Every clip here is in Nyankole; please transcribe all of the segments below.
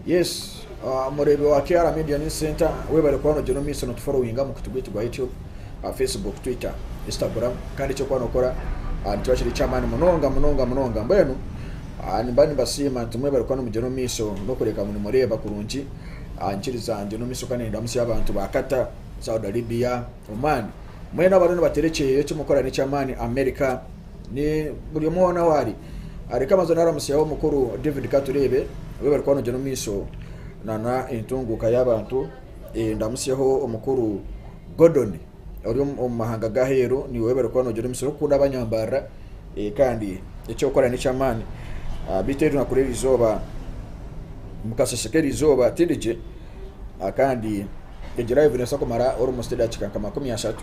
Yes mureebi wa KR media news center webare kuba nogyenda omu maisho notuforowinga omu mukutu gwaitu gwa YouTube, Facebook, Twitter, Instagram kandi ekyokuba nokora nikiba kiri eky'amaani munonga munonga munonga mbwenu nimba nibasiima nti mwebare kuba nimugyenda omu maisho n'okureeba ngu nimureeba kurungi nkiriza ngyende omu maisho kandi nindamutsya abantu ba Qatar, Saudi Arabia, Oman mwena abariyo nibateera ekyeeyo ekimukora n'eky'amaani America. Ni buri omwe hoona ahu ari. Reka mbanze naramutsye aho mukuru David Katureebe abu bari kuba nogira omu maisho nana entunguuka y'abantu. Eh, Ndamutsyeho omukuru Gordon ori omu omu mahanga g'aheeru niwe bari kuba nogira omutsyo orikukunda abanyambarira. Eh, Kandi eki orikukora n'eky'amaani. Ah, Beitu eri naku r'eri izooba, omu kasheeshe k'eri izooba tindi gye. Ah, Kandi egi live neebaasa kumara orumutsyo edaakika nka makumi ashatu.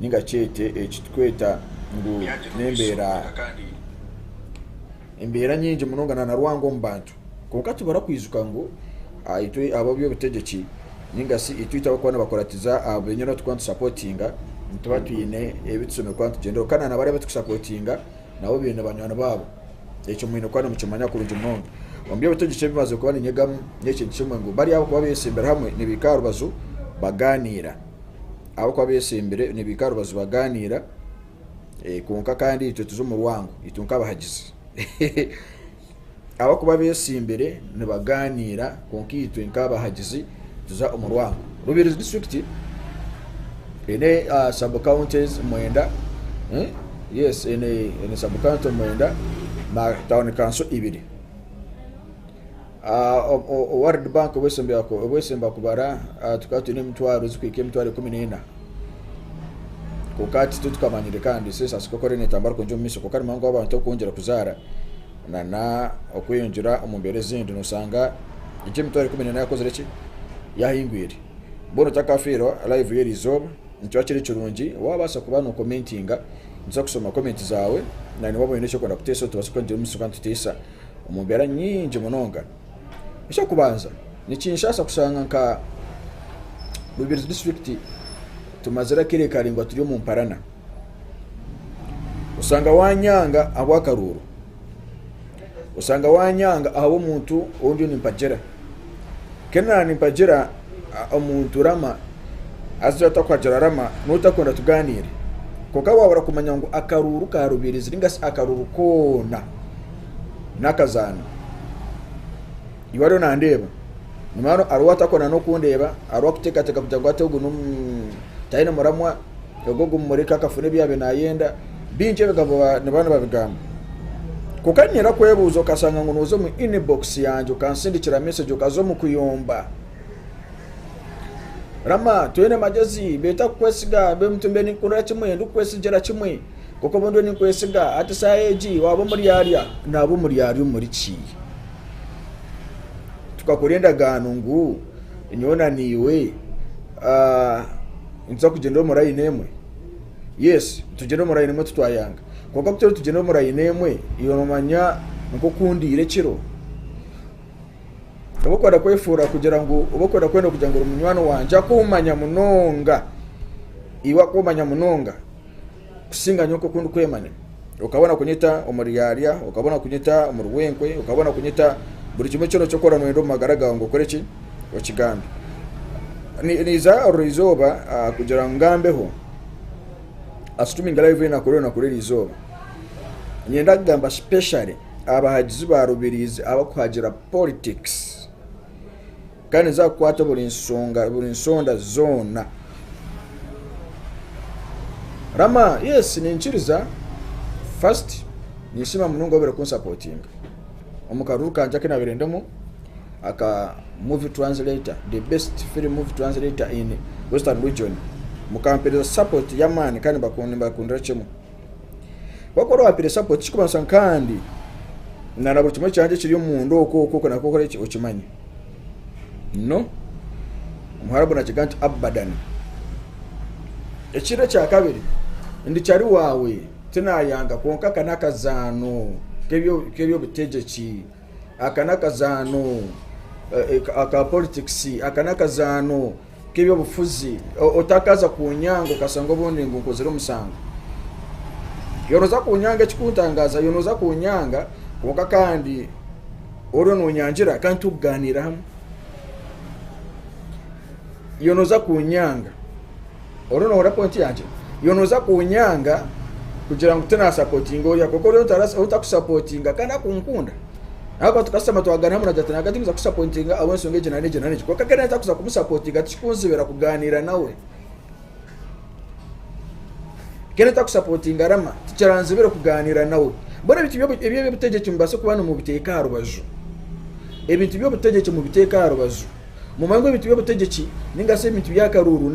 Ninga kyete eki tukweta ngu n'embeera embeera nyingi munonga na Rwanga omu bantu. Kwonka tibarakwijuka ngu itwe ab'eby'obutegyeki ninga shi itwe abarikuba nibakuratiza abo benyine obu turikuba nitusapotinga nituba twine ebi tushemereire kuba nitugyendereraho. Kandi nabari abu turikusapotinga nabo baine banywani baabo. Ekyo mwine kuba nimukimanya kurungi munonga. Omu by'obutegyeki ebi mbaazire kuba ninyegamu n'ekintu kimwe ngu bari abarikuba beeshembire hamwe nibaikara aha rubaju bagaaniira. ahabw'okuba beesembire nibaika aha rubaju bagaaniira kwonka kandi itwe turi omu rwango itwe nk'abahagizi ahabw'okuba beesimbire nibagaaniira kwonka itwe nk'abahagizi tuza omu rwango rubirizi disiturikiti eine sabu kawuntizi mwenda yes eine sabu kawunti mwenda na tauni kanso ibiri World Bank obwesemba kubara tukaba twine emitwaro zikuhika emitwaro ikumi n'ena kwonka hati titukamanyire kandi sensasi ku ekore netambura kugyenda omu maisho kwonka ni muhango w'abantu okweyongyera kuzaara na n'okweyongyera omu mbeera ezindi noshanga egi emitwaro ikumi n'ena yakozire ki? Yahingwire. Mbwenu otakafiirwa live y'eri izooba nikyo kiri kirungi wabaasa kuba no commentinga nitubaasa kushoma comment zaawe na niwe waaba oine eki orikwenda kuteesa otubaase kugira omu maisho kandi tuteisa. Omu mbeera nyingi munonga, eky'okubanza nikinshaasa kushanga nka Rubirizi disiturikiti tumazire akire karaingwa turi omu mparana. Oshanga waanyanga ahabw'akaruuru, oshanga waanyanga ahabw'omuntu ou ndiyo nimpagira, kandi naanye nimpagira. omuntu rama haza otakuhagira rama noba otakwenda tuganiire kwonka wabura kumanya ngu akaruuru ka rubirizi ninga shi akaruuru koona n'akazaano iwe ariyo nandeeba nyima hanu hariho atakwenda n'okundeeba hariho akuteekateeka kugira ngu ati ogu taine muramwa Ogwo ogumumureka akafuna ebi yaabaire naayenda, bingi ebigabo niba nibabigamba. Kwonka niinyenda kwebuuza, okashanga ngu nooza omu inbox yangye okansindikira message okaza omu kuyomba. Rama, twine magyezi, beeta kukwesiga, beitu mbe ninkukundira kimwe, ndikukwesigira kimwe. Kwonka obu ndiyo ninkwesiga, hati shaaha egi waaba omuryarya. Naaba omuryarya omuri ki? Tukakora endagaano ngu Nyowe na naiwe nituza kugyendera omu rayini emwe? Yesi, nitugyendera omu rayini emwe titwayanga. Kwonka ku turiyo nitugyendera omu rayini emwe, iwe noomanya nk'oku ndaire ekiro. Oba orikwenda kwefuura kugira ngu, oba orikwenda kwenda kugira ngu ori munywani wangye, akumanya munonga, iwe akumanya munonga. kusinga nyowe nk'oku ndikwemanya. Okabona kunyeta omuryarya, okabona kunyeta omurwenkwe, okabona kunyeta buri kimwe kyona eki orikuba nooyenda omu magara gaawe ngu okore ki? Okigambe. Niija orwo izooba ah, kugira ngu ngambeho, asituriminge laivu enaku reero naku riri izooba. Niinyenda kugamba sipeshare aha bahagizi ba Rubirizi abarikuhagira politikisi. Kandi niza kukwata buri nsonga buri nsonda zoona. Rama, yes ninkiriza first ninsiima munonga wabaire kun supportinga omu karuru kangye aku nabaire ndimu aka movie translator the best film movie translator in western region mukampereza support yamaani kandi nimbakundira kimwe. Kwonka ori owa Piresapo tikikubaasa nkandi na na buri kimwe kyangye ekiri omunda okwo okwo okwo nakwo okore ki okimanye. No. Omuharabu nakiga nti Abadan. Ekindi ekya kabiri, ndi cari waawe tinayanga kwonka aka n'akazaano k'ebyo k'eby'obutegyeki, aka n'akazaano eh, eh, ka- aka politikisi, aka n'akazaano nk'eby'obufuzi otakaaza kunyanga okashanga obundi ngu nkozire omusango yo nooza kunyanga ekikuntangaaza yo nooza kunyanga kwonka kandi oriyo noonyangira kandi turi kugaaniira hamwe yo nooza kunyanga oriyo noohurira pointi yangye yo nooza kunyanga kugira ngu tinaasapotinga oriya kwonka oriya otakusapotinga kandi akunkunda Ahabw'okuba tukashutama twagaaniira Muraja ati, Naagati niimuza kusapointinga ahabw'enshonga egi nari egi nari egi. Kwonka nk'eraabe ntakuza kumusapointinga, tikikunzibira kugaaniira nawe. Nk'eraabe ntakusapointinga Rama, tikiranzibire kugaaniira nawe. Mbwenu ebintu ebi eby'obutegyeki mubaase kuba nimubiteeka aha rubaju. Ebintu by'obutegyeki mubiteeke aha rubaju. Mumanye ngu ebintu by'obutegyeki ninga shi ebintu by'akaruuru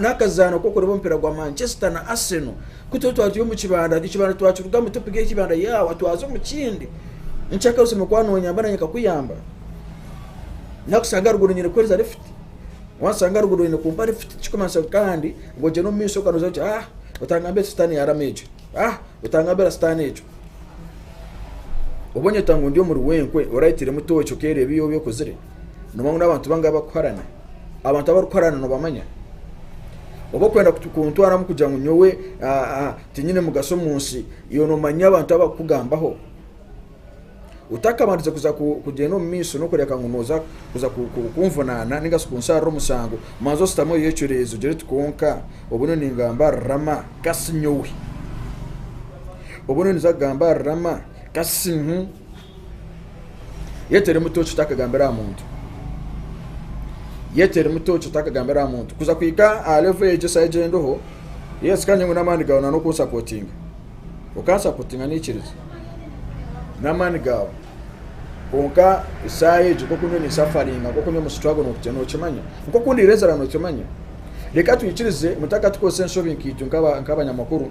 n'akazaano k'okureeba omupiira gwa Manchester na Arsenal. Ku tuba twari turi omu kibanda, ekyo kibanda twakirugamu, topiki eki kibanda yaawa, twaza omu kindi. Nikihika aho osemeriire kuba noonyamba naanye nkakuyamba. Naakushanga aha ruguudo nyine kukuheereza lifuti, waanshanga aha ruguudo nyine kumpa lifuti tikirikumanyisa ngu kandi ngu ogyere omu maisho kandi oze oti ah otangambira eki sitaane yaarama ekyo, ah otangambira sitaane ekyo. Oba onyeta ngu ndi omuri wenkwe, oraitiiremu tooci okeereeba ebi orikuba okozire? Nooba ngu n'abantu bangahi abarikuharana? Abantu abarikuharana noobamanya? Oba orikwenda kuntwaramu kugira ngu nyowe tinyine mugasho omu nsi, iwe noomanya abantu abu barikukugambaho? Otakabandije kuza kugyenda omu maisho n'okureebeka ngu nooza kuza kunvunaana nainga shi kunsharira omusango, manza oshutame oyecureeze ogire oti, Kwonka obu nyowe ningamba ahari Rama, ka si nyowe? Obu nyowe ninza kugamba ahari Rama, ka si nyowe? Yete eri mutookye otakagambira aha muntu. Yete eri mutookye otakagambira aha muntu. Kuza kuhika aha levo egyo esaha egi ei ndiho, yes kandi nyowe n'amaani gaawe na n'okunsapotinga. Okansapotinga naikiriza. N'amaani gaawe. Kwonka esaaha egi nk'oku nyowe ninsafaringa, nk'oku nyowe mu struggle nookukye- nookimanya. Nk'oku ndiirezera nookimanya. Reka twikirize mutaka tukozese enshobi nkaitu nk'aba- nk'abanyamakuru,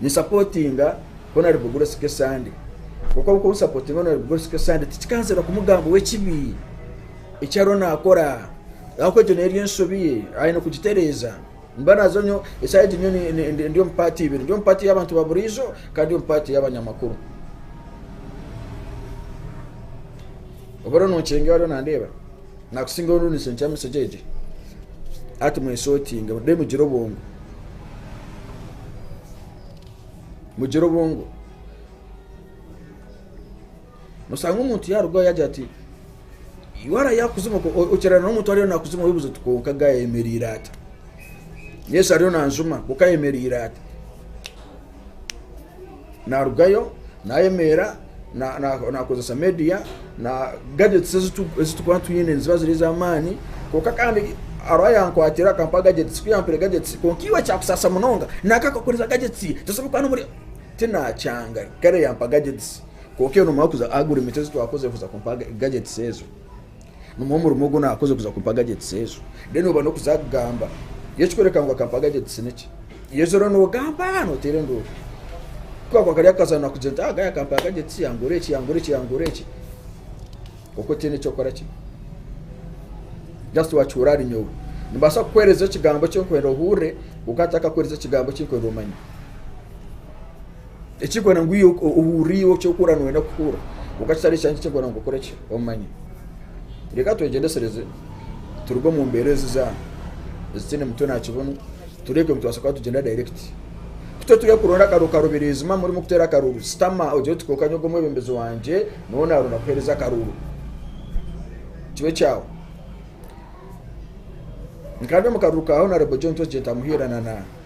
ninsapotinga honarebo bugura sika esande kwonka ahabw'okuba ninsapotinga honarebo bugura sika esande tikikanzira kumugambaho ekibi eki ariyo naakora ahabw'okuba egyo neeri ensobi ye aine kugitereeza nimba naaza nyo esaaha egi nyowe ni- ni- ni- ndi omu paati ibiri ndi omu paati y'abantu ba buriijo kandi ndi omu paati y'abanyamakuru oba oriyo nonkyenga ariyo nandeeba Nakusingaho nunu nishenkya misege egyo hati mweshotinge then mugire obwongo mugire obwongo nosanga omuntu yarugaho yagira ati waraye akuzima ko- o- okirana n'omuntu ariyo nakuzima wibuza oti konka ga ayemereire ati yesu ariyo nanjuma konka ayemereire ati Naarugayo naayemeera naakozesa meediya, gagyetisi ezi turikuba twine niziba ziri ez'amaani. Kwonka kandi hariho ayaakwatire akampa gagyetisi, ku yaampaire gagyetisi kwonka iwe kyakusaasa munonga nanka akakukoresa gagyetisi tosobola kuba n'omurimo. Tinaakyanga kare yaampa gagyetisi kwonka ewe noomanya kuza agura emiti ezi twakoze kuza kumpa gagyetisi ezo. Nimwo omurimo ogu naakoze kuza kumpa gagitisi ezo. Reero nooba n'okuza kugamba Yesu kworeka ngu akampa gagitisi niki? Yesu reero noogamba nooteera enduuru. Ku kaakuba kari akazaano naakugire nti, aga yakampa gagitisi, yangura eki, yangura eki, yangura eki. Kwonka otiine eki okora ki? Just wakihuurira ahari nyowe. Nimbaasa kukuheereza ekigambo eki nkwenda ohurire, kwonka ntakakuheereza ekigambo eki nkwenda omanye. Ekirikukora ngu iwe ohurire iwe eki orikukora nooyenda kuhurira kwonka kitari ekyange ekirikukora ngu okore ki omanye. Reeka twegyendesereze turuge omu mbeera ezi ezitaine mutwe na kibunu tureebe ku nitubaasa kuba tugyenda dayirekiti. Ku turi kuronda akaruuru karubireezi maama orimu kuteera akaruuru shutama ogire oti kwonka nyowe omwebembezi wangye nooba naaronda kukuheereza akaruuru kibe ekyawe. Nka ndi omu karuuru ka honourable John Twegye Ntamuhiire na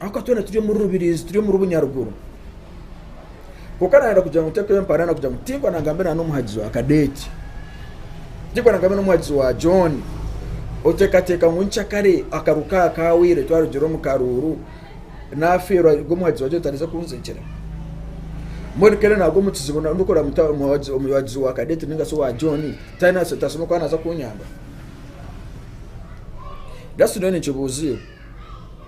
Ahakuba twena turi omuri Rubirizi, turi omuri Bunyaruguru. Kwonka naayenda kugira ngu ntekeho empara na kugira ngu tinkora nangambe na n'omuhagizi wa Kadeeti. Tinkora nangambe n'omuhagizi wa John. Oteekateeka ngu nkyakare akaru ka kaahwaire twarugiire omu karuuru naafeerwa ngu omuhagizi wa John tarize kunzegyera. Mbwenu kare naagwa omu kizibu na- ndikora muta omuhagizi omuhagizi wa Kadeeti ninga shi owa John tayine ase- tashemeriire kuba naaza kunyamba? Just nyowe ninkibuuza iwe.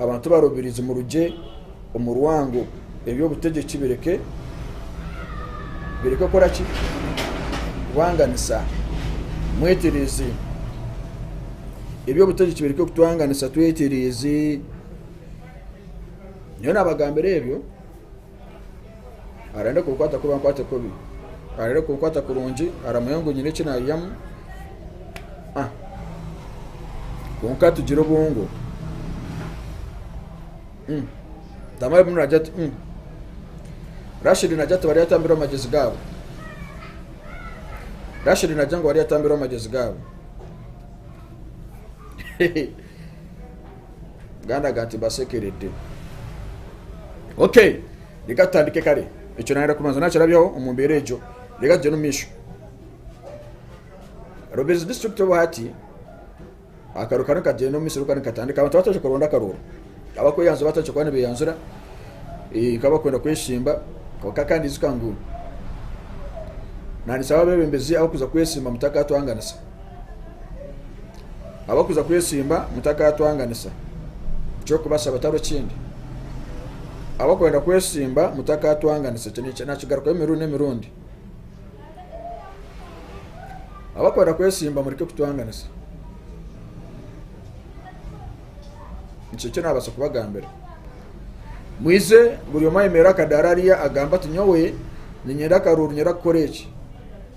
Abantu barubirizi murugye omu rwango eby'obutegyeki bireke bireke kukora ki? Kubanganisa. Mwetereeze, eby'obutegyeki bireke kutwanganisa. Twetereeze, nyowe naabagambira ebyo. arenda kunkwata kubi ankwate kubi arenda kunkwata kurungi aramanya ngu nyine eki naiyamu ah. kwonka tugire obwongo mm. tamara bimwe nagira ati mm. rashidi nagira ati bari yatambirwa amagezi gaabo rashidi nagira ngu bari yatambirwa amagezi gaabo Muganda aga ati mbasekerede. Okay, reka tutandike kare. Ekyo nayenda kubanza nakirabyaho omu mbeera egyo. Reka tugyende omu maisho. Rubirizi district obu hati akaru kanu kagyenda omu misiri kandi katandika abantu bataje kuronda akarooro abakweyanzura bataje kuba nibeyanzura eh, nkaba kwenda kweshimba kwonka kandi izuka ngu nandisaba abebembezi abakuza kwesimba mutaka atwanganisa Abarikuza kwetsimba mutakaatwanganisa eky'okubashaba tari kindi. Abarikwenda kwetsimba mutakaatwanganisa. Ekyo naakigarukaho emirundi n'emirundi. Abarikwenda kwetsimba mureke kutwanganisa. Nikyo eki naabaasa kubagambira. Mwije buri omwe ayemereire aha kadaara ariya agambe ati, Nyowe niinyenda akaruuru nyende kukora eki.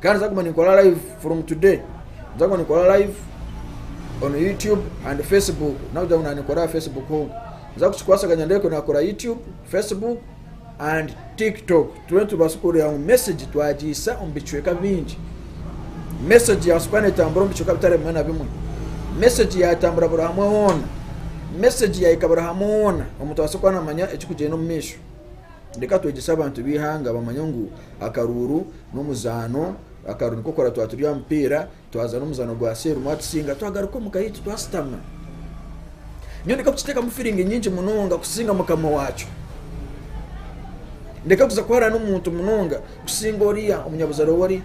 kandi nzaguma ninkora live from today nzaguma ninkora live on youtube and facebook nakugira ngu nanikora aha facebook honka nza kukikwasaganya ndebe ku nakora youtube facebook and tiktok tube tubaase kureeba ngu message twagiisa omu bicweka bingi message yabaasa kuba netambura omu bicweka bitari bimwe na bimwe message yatambura buri hamwe hoona message yahika buri hamwe hoona omuntu abaase kuba namanya ekikugyenda omu maisho Reka twegyese abantu b'eihanga bamanye ngu akaruuru n'omuzaano. Akaruuru nikwo kukora twaba turi aha mupiira, twazaana omuzaano gwa seero omwe atusinga, twagaruka omuka yaitu twashutama. Nyowe ndeka kukiteekamu firingi nyingi munonga kusinga mukama waakyo. Ndeka kuza kuharira n'omuntu munonga kusinga oriya omunyabuzaare ou ari.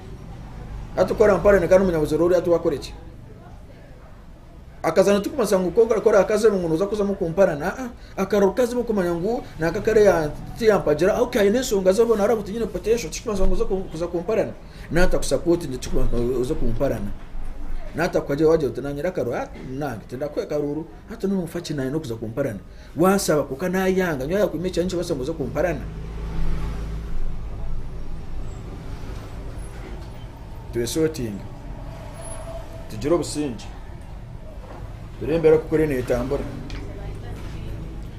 Hati ku aramparirana kandi omunyabuzaare oriya ati waakore ki? Akazaana tikumanyisa ngu ku orikuba orakaziremu ngu nooza kuzamu kumparana. Aa, akara orukaziremu kumanya ngu naaka kare ya- tiyampagira aho ka aine enshonga ze boona araba otiine potential tikikumanyisa ngu oze ku- kuza kumparana. Naatakusapotingire tikikumanyisa ngu oze kumparana. Naatakuhagira waagira oti naanye reka ru- aa, naanye tindakuha akaruuru hati nooba noofa ki naanye n'okuza kumparana. Wansaba kwonka nayanga nyowe ahakunywa ekirahure nikibaasa ngu oze kumparana? Twesotinge, tugire obusingye, ture embeera oku kuri netambura.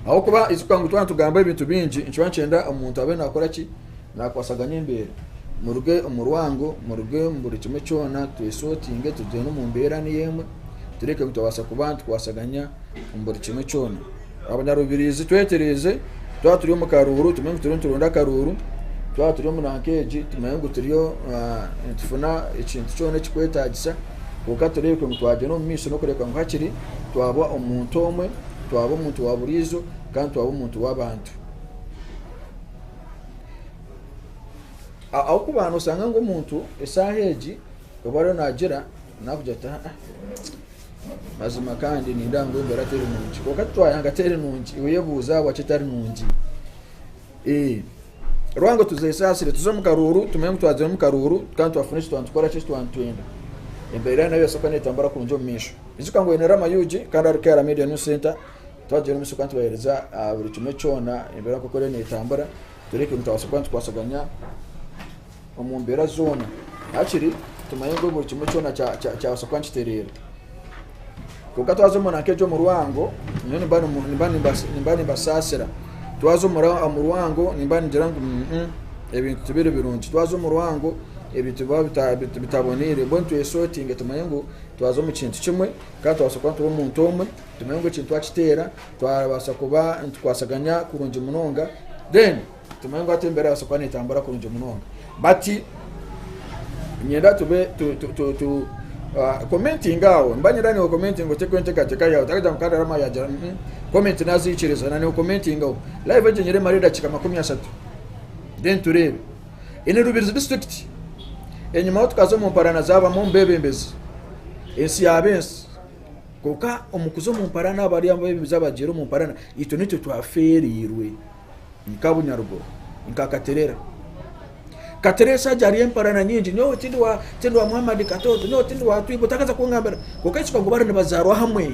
Ahabw'okuba itwe twaba nitugamba ebintu bingi nikituba nikyenda omuntu abe nakora ki? Naakwasaganya embeera. Muruge omu rwango, muruge omu buri kimwe kyona, twesootinge tugyende omu mbeera niyo emwe, tureke ngu twabaasa kuba nitukwasaganya omu buri kimwe kyona. Abanyarubirizi twetereeze, twaba turi omu karuuru tumenye ngu turiyo nituronda akaruuru, twaba turi omu nanka egi tumenye ngu turiyo ah, nitufuna ekintu kyona ekikwetaagisa, kwonka tureebeke ngu twagyenda omu maisho n'okureebeka ngu hakiri twaba omuntu omwe, twaba omuntu wa buriijo kandi twaba omuntu w'abantu. ahabw'okuba noshanga ngu omuntu eshaaha egi obu ariyo naagira naakugira ati aa mazima kandi nindeeba ngu embeera teri nungi kwonka titwayanga teri nungi oyebuuze ahabwaki etari nungi ee orikuba ngu tuzesaasire tuze omu karuuru tumanye ngu twagyenda omu karuuru kandi twafuna eki twanitukora ki eki twanitwenda embeera nayo neebaasa kuba neetambura kurungi omu maisho ijuka ngu oine rama ug kandi hariho kayira media new centre Twagyera omu ishokye nitubahereza aha buri kimwe kyona embeera nk'oku eriyo neetambura, tureke nitubaasa kuba nitukwasaganya omu mbeera zoona hakiri tumanye ngu buri kimwe kyona kyabaasa kuba nikitereera. Kwonka twaza omu nanka egyo omu rwango, nyowe nimba nimbasaasira. Twaza omu rwango nimba ningira ngu ebintu tibiri birungi. Twaza omu rwango ebintu biba bitaboneire. Mbwenu twesotinge tumanye ngu twaza omu kintu kimwe kandi tubaasa kuba turi omuntu omwe. Tumanye ngu ekintu twakiteera twabaasa kuba nitukwasaganya kurungi munonga, then tumanye ngu hati embera ebaasa kuba netambura kurungi munonga but nyenda tube tu, tu, tu, tu uh, commenting awo mba nyenda niwe commenting otekwe entekateka yawe takagira ngu kandi arama yagira mm -mm. comment nazikiriza na niwe commenting awo live egyo nyere mare edakika makumi asatu then tureebe ini rubirizi district enyuma aho tukaza omu mparana zabamu omubebembezi ensi yaba ensi Kwonka omu kuza omu mparaana abo bari ab'emize abagyera omu mparaana, itwe nitwe twafeereirwe. Ni ka bunyaruguru, ni ka katerera. Katerera eshaaha egi hariyo emparaana nyingi, nyowe tindi wa tindi wa Muhammad Katooto, nyowe tindi wa Twibo, takaza kungambira. Kwonka ekyo kakuba bari nibazaarwa hamwe,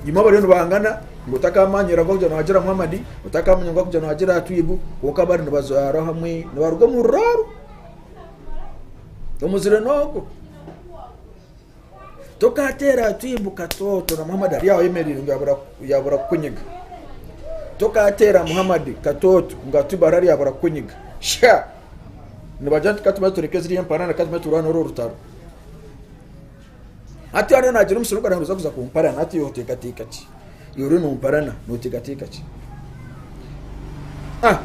imwe bariyo nibahangana ngu otakaamanyire agu arikugira ngu agira Muhammad, otakaamanya ngu arikugira ngu agira Twibo, kwonka bari nibazaarwa hamwe, nibaruga omu ruraaro, omuzire n'ogwo. Tokaateera twimuka twooto na Muhammad ari aho ayemereire ngu yaabura kukunyiga. Tokaateera Muhammad katooto ngu Atubar ari yaabura kukunyiga. Sha! Nibagira nti ka tubanze tureke ziriya emparaana, ka tubanze turwane orwo rutaro. Hati haaba naagira omusiri ogwo naaza kuza kumparana, hati iwe oteekateeka ki? Iwe oriyo noomparana nooteekateeka ki? Ah!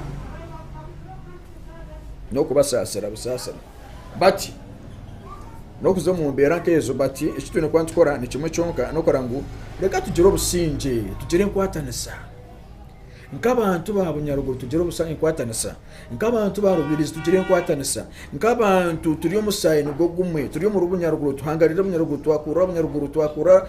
N'okubasaasira busaasira. bati n'okuza omu mbeera nk'ezo bati eki twine kuba nitukora ni kimwe kyonka n'okora ngu reka tugire obusingye tugire enkwatanisa nk'abantu ba bunyaruguru tugire enkwatanisa nk'abantu ba rubirizi tugire enkwatanisa nk'abantu turi omusaayi nigwo gumwe turi omuri bunyaruguru tuhangarire bunyaruguru twakurura bunyaruguru twakura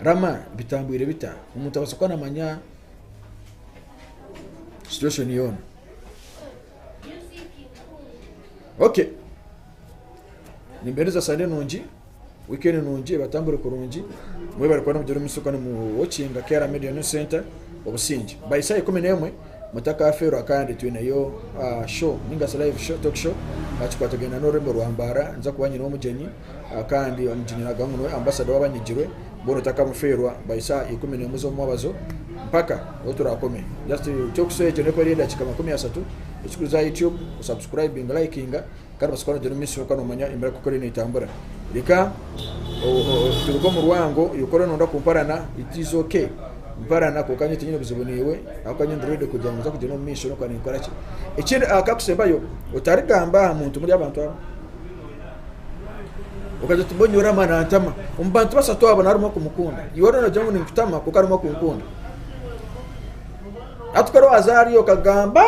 Rama bitambwire bita omuntu abaasa kuba namanya situation yoona ok nimbeereza sande nungi weekend nungi batambure kurungi mwebare kuba nimugyera omu maisho kandi mu watchinga KR media news centre obusingye by saaha ikumi n'emwe mutakafeerwa kandi twineyo ah show ningashi live show talk show aha kikwatagaine n'orurembo rwa mbaara ninza kuba nyine omugyenyi kandi nikinyarara ngu niwe ambasada w'abanyigirwe boona otakamufeerwa bahitsya aha ikumi n'emwe z'omumwabazo mpaka obu turakome just ekyokushusha ekyo nekora edakika makumi asatu ekikuriza aha YouTube osubscribinga olayikinga kandi obaasa kuba nogira omu maisho kandi omanya emirago ku eriyo netambura reka turuge omu rwango yokora nonda kumparana it is ok mparana kwonka nyowe tinyine buzibu naiwe ahakuba nyowe ndi ready kugira ngu nza kugyenda omu maisho nokuba ninkorakye ekindi aha Kakusembayo otarigamba aha muntu omuri abantu abo. okagira oti mbwenu yorama nantama omu bantu bashatu abo narimu okumukunda iwe orona ogira ngu ninkutama kuko arimu okunkunda ati kora wazariyo okagamba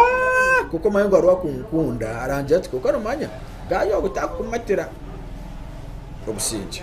kuko omanya ngu hariho akunkunda arangira ati kuko nomanya gaayo ogu takukumatira obusingye